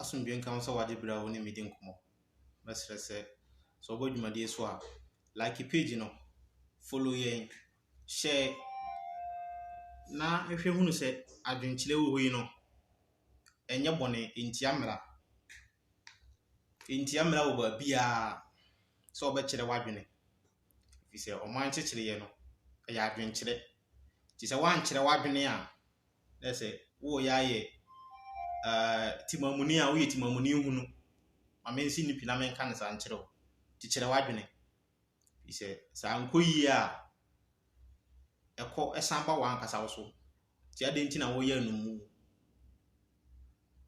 Asomdwoe nka wo sɛ wagye bere a wo ne me redi nkɔmmɔ. Mɛsrɛ sɛ, sɛ wobɔ dwumadi yi so a, like page no, follow yɛn, share, na hwɛ hu sɛ adwenkyerɛ a ɛwɔ hɔ yi no, ɛnyɛ bɔne, entia mmara. Entia mmara wɔ baabiara sɛ wobɛkyerɛ w'adwene. Ɛfiri sɛ ɔman nkyekyereɛ no, ɛyɛ adwenkyerɛ. Nti sɛ woankyerɛ w'adwene a, na sɛ woyɛ ayɛ eh, timamuni a woyɛ timamuni hunu. Ma mensi no pi na menka no saa nkyerɛ wo. Nti kyerɛ w'adwene. Ɛfiri sɛ sɛ ankɔ yie a, ɛkɔ ɛsan ba w'ankasa wo so. Nti adɛn nti na woyɛ anomu?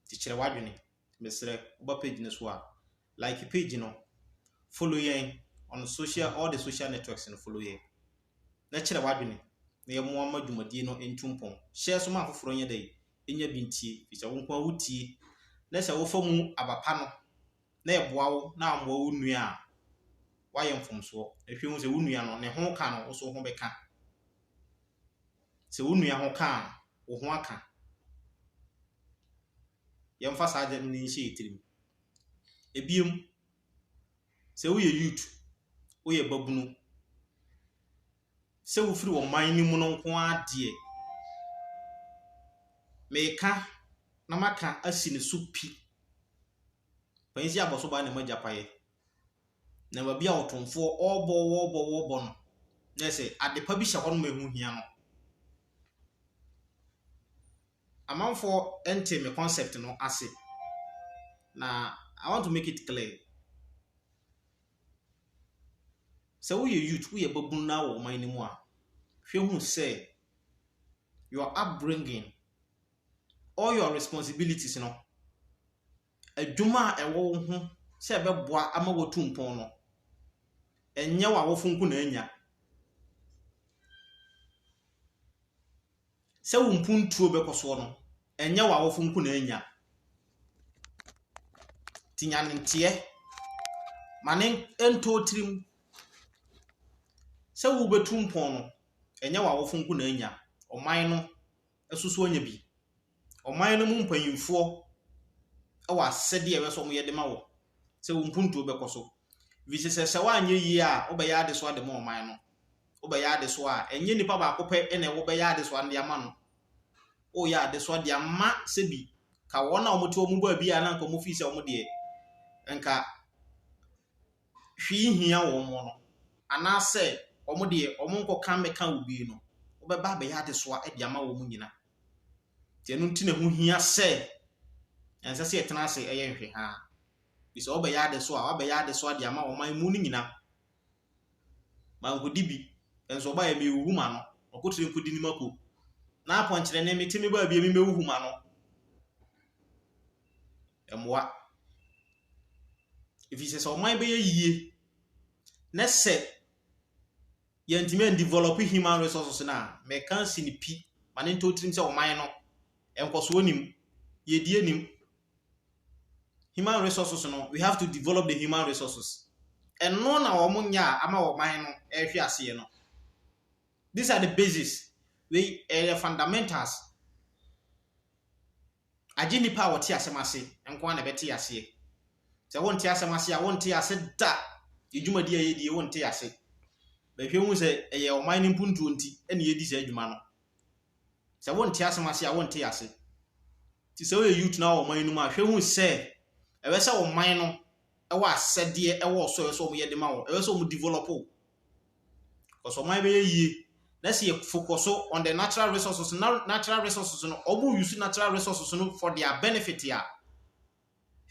Nti kyerɛ w'adwene. mesrɛ woba page no so a like page no follow yɛn on social all the social networks no follow yɛn na kyerɛ w'adwene na yɛmmoa ma dwumadie no ntu mpɔn hyɛ so ma afoforɔ nyɛ dɛ ɛnya bi ntie firi sɛ wo nko a wotie na sɛ wofa mu aba pa no na ɛboa wo na ammoa wo nua a woayɛ mfomsoɔ ɛhwɛ hu sɛ wo nua no ne ho ka no wo so ho bɛka Te wo nua ho ka a, wo ho aka. Yɛmfa saa adwene no nhyɛ yɛn tirim. Ebiem, sɛ woyɛ youth, woyɛ babunu, sɛ wofiri ɔman no mu no nko ara deɛ, meka na maka asi ne so pi. Panyin si abɔso baa na ɛma gyapaeɛ. na baabi a ɔtomfoɔ ɔrebɔ ɔrebɔ ɔrebɔ no, na ayɛ sɛ adepa bi hyɛ hɔ nom a ɛho hia no. Amanfoɔ ntee me concept no ase, na I want to make it clear. Sɛ woyɛ youth, woyɛ babunu na wɔ ɔman no mu a, hwɛ hu sɛ your upbringing, all your responsibilities no, adwuma a ɛwɔ wo ho sɛ ɛbɛboa ama woatu mpɔn no, ɛnyɛ w'awofo nko na anya. Sɛ wo mpuntuo bɛkɔ soɔ no, ɛnyɛ w'awofo nko na anya. Nti nya ne nteɛ, ma ne ntɔ wo tirim sɛ wobɛtu mpɔn no, ɛnyɛ w'awofo nko na anya, ɔman no nso so anya bi. Ɔman no mu mpanyimfoɔ wɔ asɛdeɛ a ɛwɔ sɛ wɔyɛ de ma wo sɛ wo mpuntuo bɛkɔ so. Ɛfiri sɛ, sɛ woanyɛ yie a, wobɛyɛ adesoa de ma ɔman no. Wobɛyɛ adesoa a, ɛnyɛ nipa baako pɛ na wobɛyɛ adesoa no de ama no. Woyɛ adesoa de ama sɛbi ka wɔn a wɔte wɔn baabi a na anka wɔfii sɛ wɔn deɛ nka hwee nhia wɔn mo no, anaa sɛ wɔn deɛ wɔn nkɔka mmɛka obi no, wobɛba abɛyɛ adesoa de ama wɔn nyina. Nti ɛno nti na ɛho hia sɛ ɛnsɛ sɛ yɛtena ase ɛyɛ nhwehaa. Bi sɛ wɔbɛyɛ adesoa a, wɔabɛyɛ adesoa de ama wɔn man mu no nyina. Mankɔdi bi, nso ɔba yɛ mewuhu ma no, ɔkotire nkɔdi ne mako. Na apɔnkyerɛ ne mete me baabi a me mewuhu ma no. ɛmmoa. Ɛfiri sɛ, sɛ ɔman bɛyɛ yie na sɛ yɛantumi andivelɔpe human resources no a, mɛka asi no pi ma no ntɔ tirim sɛ ɔman no, nkɔsoɔ nni mu, yiedie nni mu. Human resources no, we have to develop the human resources. Ɛno na wɔn nyɛ a ama ɔman no ɛrehwe aseɛ no. These are the basis. Wei ɛyɛ fundamentals. Agye nnipa a wɔte asɛm ase nko ara na ɛbɛte aseɛ. Sɛ wonte asɛm ase a, wonte ase da. Yɛn dwumadi a yɛdi yi, wonte ase. Bɛhwɛ hu sɛ ɛyɛ ɔman no mpuntuo nti na yɛdi saa dwuma no. Sɛ wonte asɛm ase a, wonte ase. Nti sɛ woyɛ youth na wɔ ɔman no mu a, hwɛ hu sɛ ɛwɛ sɛ ɔman no ɛwɔ asɛdeɛ ɛwɔ so ɛwɛ sɛ wɔyɛ de ma wɔn. Ɛwɛ sɛ wɔn develop wo. Because ɔman bɛyɛ yie. Na sɛ yɛ focus on the natural resources na natural resources no ɔmo use natural resources no for their benefit a.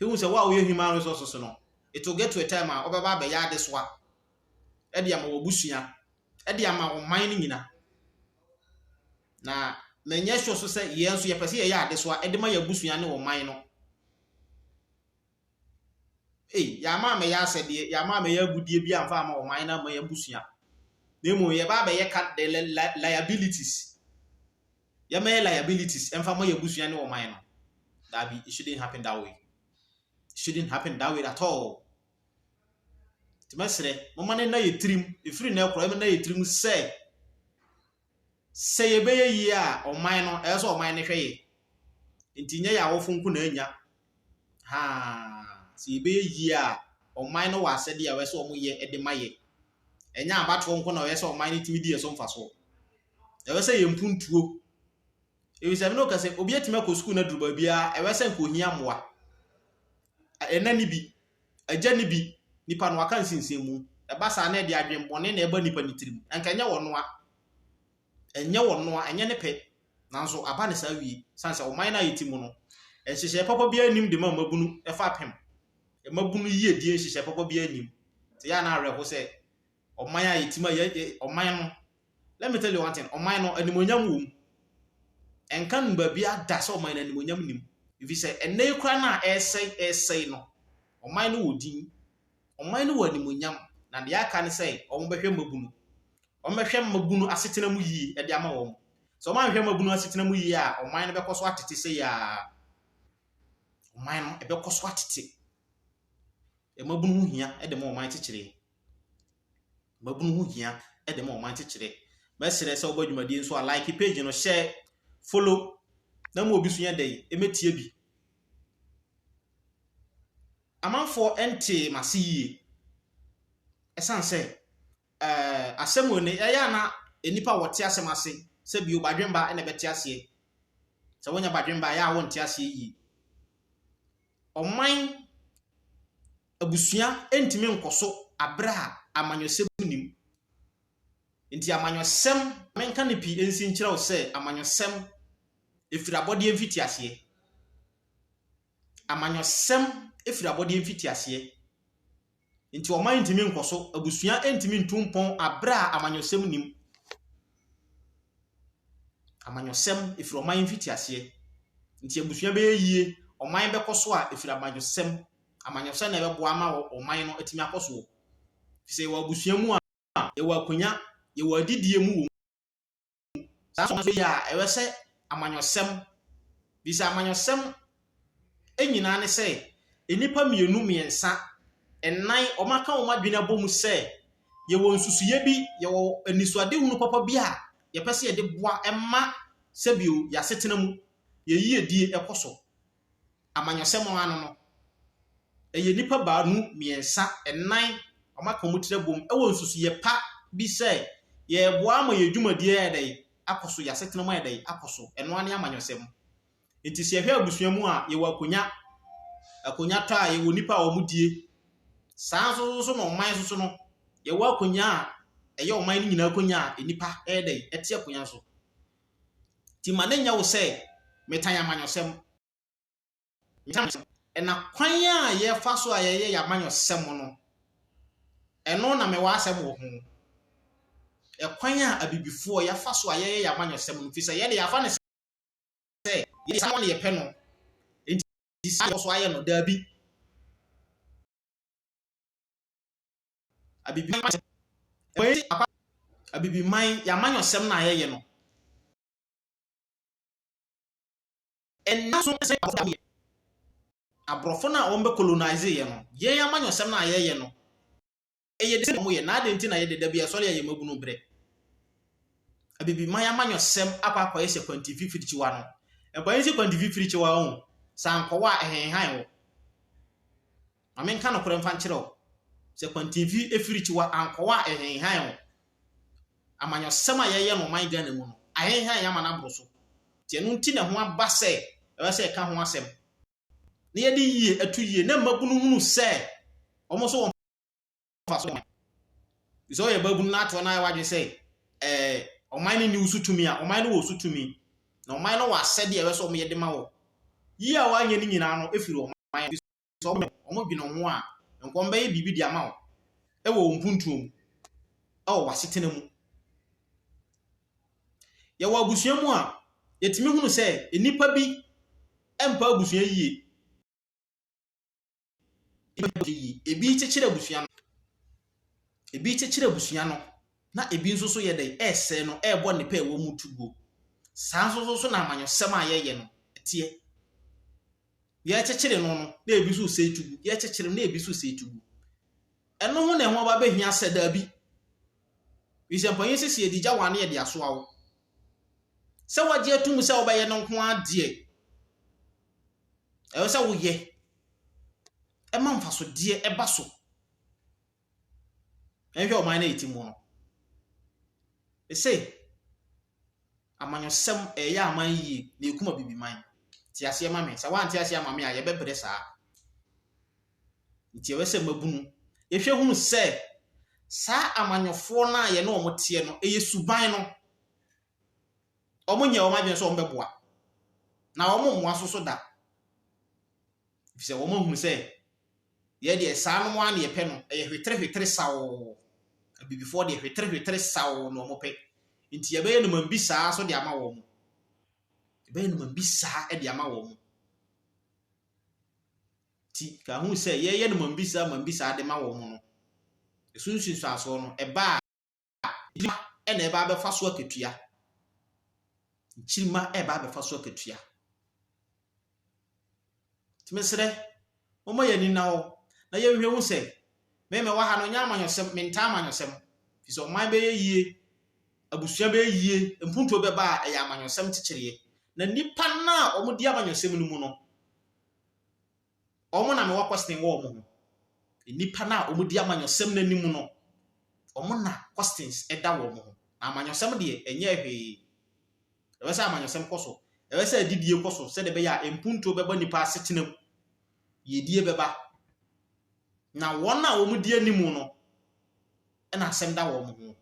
Ehu sɛ wo a woyɛ human resources no, it will get to a time a ɔbɛba abɛyɛ adesoa ɛde ama w'abusua, ɛde ama ɔman no nyina. Na menyɛ sure so sɛ yɛn nso yɛpɛ sɛ yɛyɛ adesoa ɛde ma yɛn abusua ne ɔman no. Ei, yɛama ammɛyɛ asɛdeɛ, yɛama ammɛyɛ agudeɛ bi amfa ama ɔman na ama yɛn abusua. Na mmom yɛba abɛyɛ ka de li, li, liabilities. Yɛmmɛyɛ liabilities ɛmfa ma yɛn abusua ne ɔman no. Daabi, it shouldn't happen that way. It shouldn't happen that way at all. Nti mɛsrɛ, momma no nna yɛ tirim, ɛfiri nnɛ korɔ, ɛmɛnna yɛ tirim sɛ, Sɛ yɛbɛyɛ yie a, ɔman no, ɛyɛ sɛ ɔman no hwɛ yɛ. Nti nyɛ yɛ awofo nko na anya. Haa, sɛ yɛbɛyɛ yie a, ɔman no wɔ asɛdeɛ a ɛyɛ sɛ wɔyɛ de ma yɛ. Ɛnyɛ abatoɔ nko na ɛyɛ sɛ ɔman no tumi di yɛ so mfasoɔ. Ɛyɛ sɛ yɛn mpuntuo. Ɛfiri sɛ, me ne wo ka sɛ, obi atumi akɔ sukuu no aduru baabiara, ɛyɛ sɛ nka ohia mmoa. Ɛna ni bi, Agya no bi, nipa no waka nsinsin mu. Ɛba saa na ɛde adwen bɔne na ɛba nipa no tirim. Anka ɛnyɛ wɔn noa. Ɛnyɛ wɔn noa, ɛnyɛ ne pɛ. Nanso aba no saa wie. Sane sɛ ɔman no a yɛte mu no, nhyehyɛɛ papa biara nnim de ma mmabunu fapem. Mmabunu yiedie nhyehyɛɛ papa biara nnim. Nti ɛyɛ a na awerɛho sɛ. ɔman a yɛtim a yɛ ɔman no let me tell you one thing ɔman no animonyam wɔ mu ɛnka no baabi ada sɛ ɔman no animonyam nim ɛfiri sɛ ɛnna yi kora no a ɛresɛe ɛresɛe no ɔman no wɔ din ɔman no wɔ animonyam na deɛ aka ne sɛ wɔbɛhwɛ mmabunu wɔbɛhwɛ mmabunu asetena mu yie ɛde ama wɔn sɛ wɔanhwɛ mmabunu asetena mu yie a ɔman no bɛkɔ so atete sɛ yɛ a ɔman no ɛbɛkɔ so atete mmabunu ho hia ɛde ma ɔman kyekyere Mmabunu ho hia de ma ɔman kyekyere. Mɛsrɛ sɛ wobɔ dwumadie nso a like page no, share, follow na ma obi nso nyɛ dɛn ɛmɛtie bi. Amanfoɔ ntee m'ase yie ɛsiane sɛ eh, asɛm wei no ɛyɛ a na nnipa a wɔte asɛm ase sɛ bio badwemba na ɛbɛte aseɛ. Sɛ wonya badwemba ɛyɛ a wonte aseɛ yie. Ɔman abusua ntumi nkɔ so bere a amanyɔsɛm nnim. Enti amanyɔsɛm, menka no pii nsi nkyerɛ wo sɛ amanyɔsɛm ɛfiri abɔdeɛ mfitiaseɛ. Amanyɔsɛm ɛfiri abɔdeɛ mfitiaseɛ. Nti ɔman ntumi nkɔ so, abusua ntumi ntu mpɔn abere a amanyɔsɛm nim. Amanyɔsɛm ɛfiri ɔman mfitiaseɛ. Nti abusua bɛyɛ yie, ɔman bɛkɔ so a ɛfiri amanyɔsɛm amanyɔsɛm na ɛbɛboa ama ɔman no atumi akɔ soɔ. Ɛfiri sɛ yɛwɔ abusua mu a, yɛwɔ akonnwa, yɛwɔ adidie mu wɔ mu. Saa nso nso yɛ a, ɛwɛ sɛ amanyɔsɛm, bi sɛ amanyɔsɛm nyinaa ne sɛ, nnipa mmienu, mmiɛnsa, nnan, wɔaka wɔn adwene abɔ mu sɛ, yɛwɔ nsusuiɛ bi, yɛwɔ anisoadehunu papa bi a yɛpɛ sɛ yɛde boa ma sɛbio yɛasetena mu, yɛn yiedie ɛkɔ so. amanyɔsɛm ano no, ɛyɛ nnipa baanu, mmiɛnsa, nnan, wɔaka wɔn tiri abom wɔ nsusuiɛ pa bi sɛ yɛreboa ama yɛn dwumadie ayɛ dɛn akɔ so, yɛn asetena mu ayɛ dɛn akɔ so. Ɛno ara ne amanyɔsɛm. Nti sɛ yɛhwɛ abusua mu a, yɛwɔ akonnwa, akonnwa tɔ a yɛwɔ nnipa a wɔdie. Saa nso nso na ɔman nso so no, yɛwɔ akonnwa a ɛyɛ ɔman no nyinaa akonnwa a nnipa yɛ dɛn, ɛte akonnwa so. Nti ma no nyɛ wo sɛ metan amanyɔsɛm. Ɛna kwan a yɛfa so a yɛyɛ yɛn amanyɔsɛm no, ɛno na mewɔ asɛm wɔ ho. Ɛkwan a abibifoɔ yɛfa so a yɛyɛ yɛn amanyɔsɛm no, firi sɛ yɛde yɛafa no sɛ yɛyɛ saa na yɛpɛ no, nti saa yɛkɔ so ayɛ no, daabi. Abibiman wei apa Abibiman y'amanyɔsɛm na yɛyɛ no. Ɛnna so sɛ aborɔfo yɛ aborɔfo no a wɔn bɛ colonize yɛ no yɛn amanyɔsɛm na yɛyɛ no ɛyɛ de sɛ wɔn yɛ na adi nti na yɛde da bi ɛsɔre ɛyɛ mabunu brɛ. Abibiman amanyɔsɛm akɔ akɔyɛ sɛ kwanti fifiri kyiwa no. Ɛbɛyɛ sɛ kwanti fifiri kyiwa ho sankɔwa a ɛhenhan wɔ. Ma menka nokorɛ mfa nkyerɛ wo, sɛ kwantinfi afirikyiwa ankɔwɔ a ɛhenhan wo. Amanyɔsɛm a yɛyɛ no ɔman Ghana mu no, ahenhan yɛn ama no aboro so. Nti ɛno nti na ɛho aba sɛ ɛwɔ sɛ yɛka ho asɛm na yɛde yie to yie na mmabunu hunu sɛ wɔn nso wɔ mfaso ɔman. Bi sɛ ɔyɛ babunu na atoɔ no ayɛ w'adwene sɛ ɛɛ ɔman no nni wo so tumi a, ɔman no wɔ wo so tumi. Na ɔman no wɔ asɛdeɛ a ɛwɔ sɛ wɔyɛ de ma wɔ. Yie a wɔanyɛ no nyinaa no firi ɔman no. sɛ wɔn wɔn dwene ho a nka wɔn bɛyɛ biribi de ama wo ɛwɔ wɔn mpuntuo mu ɛwɔ w'asetena mu yɛwɔ abusua mu a yɛtumi hunu sɛ nnipa bi mpa abusua yie ebi kyekyere abusua no ebi kyekyere abusua no na ebi nso so yɛ dɛ ɛresɛ no ɛrebɔ ne pɛ ɛwɔ mu tuguo saa nso so na amanyɔsɛm a yɛyɛ no ɛteɛ. yɛrekyekyere no no na ebi nso resɛe tugu, yɛrekyekyere no na ebi nso resɛe tugu. Ɛno ho na ɛho aba bɛhia sɛ daabi. Efisɛ mpanyin sɛ sɛ yɛde gya wo a na yɛde asoa wo. Sɛ woagye atom sɛ wobɛyɛ no nko ara deɛ, ɛwɔ sɛ woyɛ. Ɛma mfasodeɛ ɛba so. Yɛnhwɛ ɔman no a ɛte mu no. Ɛse, amanyɔsɛm, ɛyɛ aman yie, na ɛkum abibiman. Te aseɛ ma me. Sɛ woante aseɛ ama me a, yɛbɛbrɛ saa. Nti ɛwɛ sɛ mmabunu hwɛ hunu sɛ saa amanyɔfoɔ no a yɛne wɔn teɛ no, ɛyɛ suban no. Wɔnyɛ wɔn adwene sɛ wɔbɛboa, na wɔmmoa so so da. efisɛ wɔahunu sɛ yɛn deɛ saa nom ara na yɛpɛ no, ɛyɛ hweterehwetere saw. Abibifoɔ deɛ hweterehwetere saw na wɔpɛ, nti yɛbɛyɛ nnomam bi saa nso de ama wɔn. Yɛbɛyɛ nnomam bi saa de ama wɔn. Nti ka ho sɛ yɛyɛ nnomam bi saa, nnomam bi saa de ma wɔn no, ɛso nsunsuansoɔ no, ɛba a, Nkyirimma na ɛreba abɛfa so akatua. Nkyirimma ɛreba abɛfa so akatua. Tìmɛsrɛ, wɔn yɛ ani na hɔ na yɛhwɛ ho sɛ, mɛmɛ wɔ ha no nyɛ amanyɔsɛm, mentaa amanyɔsɛm. Fisɛ ɔman bɛyɛ yie, abusua bɛyɛ yie, mpuntuo bɛba a ɛyɛ amanyɔsɛm kyekyereɛ. Na nnipa no a wɔn di amanyɔsɛm no mu no, Wɔn na mewɔ kɔsten wɔ wɔn ho. Nnipa no a wɔdi amanyɔsɛm no anim no, wɔn na kɔsten da wɔn ho. Na amanyɔsɛm deɛ, ɛnyɛ hwee. Ɛwɛ sɛ amanyɔsɛm kɔ so. Ɛwɛ sɛ adidie kɔ so sɛdeɛ ɛbɛyɛ a mpuntuo bɛba nnipa asetena mu. Yiedie bɛba. Na wɔn a wɔdi anim no, na asɛm da wɔn ho.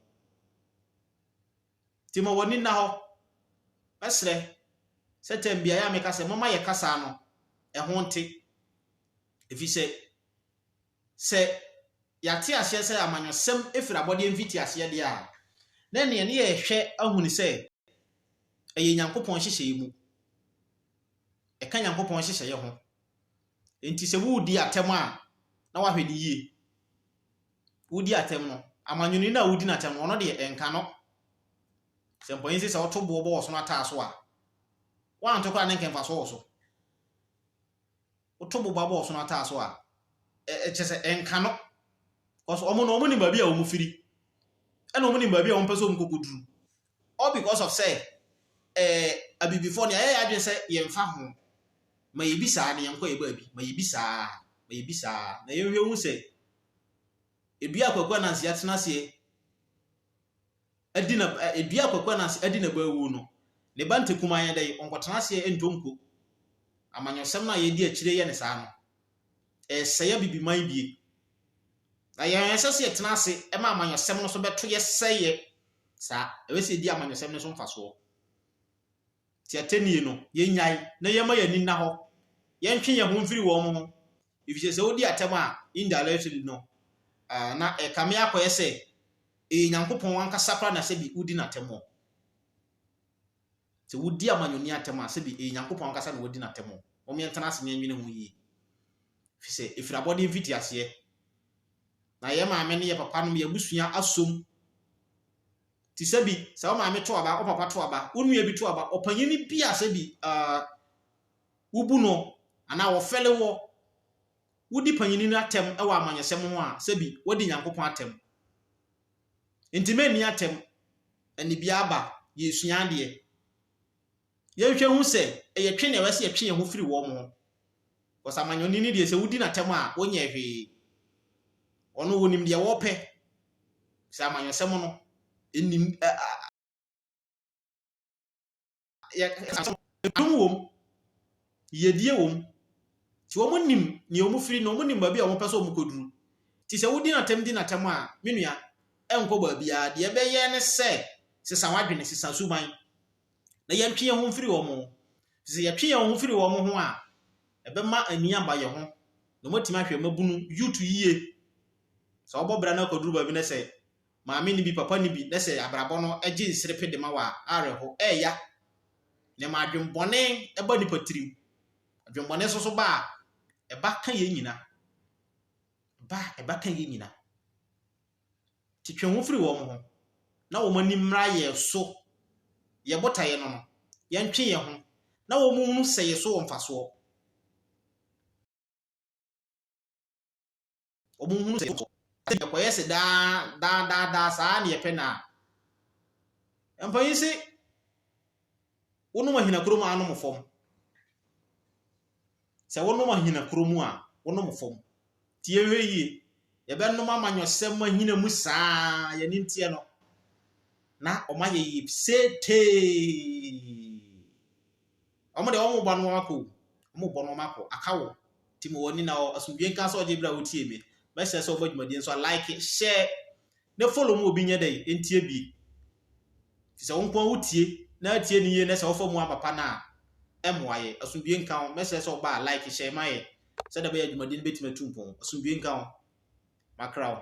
Nti ma w'ani nna hɔ. Mɛsrɛ sɛ tɛm beaeɛ a meka sɛ momma yɛka saa no, ɛho nte. Ɛfiri sɛ, sɛ yɛate aseɛ sɛ amanyɔsɛm firi abɔdeɛ mfitiaseɛ deɛ a, na ɛnneɛ ɛne yɛhwɛ ahu no sɛ ɛyɛ Nyankopɔn nhyehyɛeɛ mu. Ɛka Nyankopɔn nhyehyɛeɛ ho. Enti sɛ woredi atɛm a, na woahwɛ no yie. wodi atɛm no, amanyɔni no a wodi no atɛm no, ɔno deɛ, ɛnka no. Sɛ mpanyin se sɛ ɔto boɔ bɔ ɔsono ataa so a, woanto koraa na ɛnka mfasoɔ wɔ so. Woto boba bɔ ɔsono ataa so a, ɛkyɛ sɛ ɛnka no. Because wɔn no, wɔnim baabi a wɔfiri, ɛna wɔnim baabi a wɔmpɛ sɛ wɔkɔkɔduru. all because of sɛ eh abibifoɔ no yɛayɛ yɛn adwene sɛ yɛmfa ho ma yɛbi saa na yɛnkɔ yɛ baabi ma yɛbi saa ma yɛbi saa na yɛnhwɛ hu sɛ edua a Kwaku Anansi atena aseɛ adi na edua a Kwaku Anansi adi na baawu no ne ba ntekumaa yɛ dɛ ɔnkɔtena aseɛ ntɔ nko amanyɔsɛm no a yɛdi akyire yɛ ne saa no ɛsɛe abibiman bie Na yɛn a ɛsɛ sɛ yɛtena ase ma amanyɔsɛm no so bɛto yɛ sɛ yɛ saa. Ɛwɛ sɛ yedi amanyɔsɛm no so mfasoɔ. Ti atɛnnie no, yɛnyae na yɛmma yɛn ani nna hɔ. Yɛntwe yɛn ho mfiri wɔn ho, efisɛ sɛ wodi atɛm a, indirectly no, ah, na ɛkame akɔyɛ sɛ ɛyɛ Nyankopɔn ankasa koraa na sɛbi wodi no atɛm o. Sɛ wodi amanyɔni atɛm a, sɛbi ɛyɛ Nyankopɔn ankasa na wadi no atɛm o. Mom yɛntena ase na yɛnwene ho yie. Ɛfiri sɛ, ɛfiri abɔdeɛ mfitiaseɛ, na yɛn maame ne yɛn papa nom yɛn abusua asom. Te sɛ bi, sɛ wo maame to aba, wo papa to aba, wo nua bi to aba, ɔpanyin bi a sɛ bi uh, wobu no anaa wɔfɛle wɔ, wodi panyin no atɛm wɔ amanyɛsɛm ho a, sɛ bi, wadi Nyankopɔn atɛm. Nti mɛnni atɛm, ɛne bi aba, yɛsua adeɛ. Yɛnhwɛ nhu sɛ ɛyɛ twe na ɛwɛ sɛ yɛtwe yɛn ho firi wɔn ho. Because amanyɔni no deɛ sɛ wodi n'atɛm a, wonyɛɛ hwee. Ɔno onim deɛ wɔpɛ. Sɛ amanyɔsɛm no, ɛnim yɛ ɛdom wom, yiedie wom. Nti wɔn nim nea wɔn firi na wɔn nim baabi a wɔn pɛ sɛ wɔn kɔduru. Nti sɛ wodi n'atɛm di n'atɛm a, me nua, ɛnkɔ baabiara. Deɛ ɛbɛyɛ ne sɛ sesa w'adwene, sesa suban. na yɛntwe yɛn ho mfiri wɔn ho. Sɛ yɛtwe yɛn ho firi wɔn ho a, ɛbɛma ani aba yɛn ho, na wɔatumi ahwɛ mmabunu yuutu yie. Sɛ wɔbɔ bra no akɔduru baabi na sɛ maame no bi, papa no bi, na sɛ abrabɔ no gye nserepe de ma wɔ a, awerɛho ɛreya. Nneɛma adwemmɔne ba nipa tirim. Adwemmɔne nso so ba a, ɛba ka yɛn nyina. Ba a, ɛba ka yɛn nyina. Nti twe ho firi wɔn ho, na wɔn ani mmra yɛn so, yɛn botaeɛ no no, yɛntwe yɛn ho, na wɔn nhunu sɛ yɛn so wɔ mfasoɔ. Wɔn nhunu sɛ yɛn so wɔ mfasoɔ. Sɛ yɛkɔyɛ se daa, daa, daa, daa saa na yɛpɛ no a, mpanyin se, Wonom ahina kuro mu a anom fam. Sɛ wonom ahina kuro mu a wonom fam. Nti yɛhwɛ yie. Yɛbɛnom amanyɔsɛm mu ahina mu saa yɛne nteɛ no. Na ɔma yɛyɛ setee. Wɔn deɛ wɔn bɔ no wɔn akɔ. Wɔn bɔ no wɔn akɔ. Aka wo. Ti ma wɔn ani na asomdwe nka sɛ ɔgye bere a wotie me. Bɛsɛ sɛ ɔbɔ dwumadie nso a like share. na follow ma obi nyɛ dɛ ntie bi. Fi sɛ wo nko wo tie na atie ne yie na sɛ wofa mu amapa no a ɛmmoa yɛ. Asomdwie nka wo. Mɛsrɛ sɛ ɔba a like hyɛ ma yɛ sɛdeɛ ɛbɛyɛ adwumadi no bɛtumi atu mpɔn. Asomdwie nka wo. Makra wo.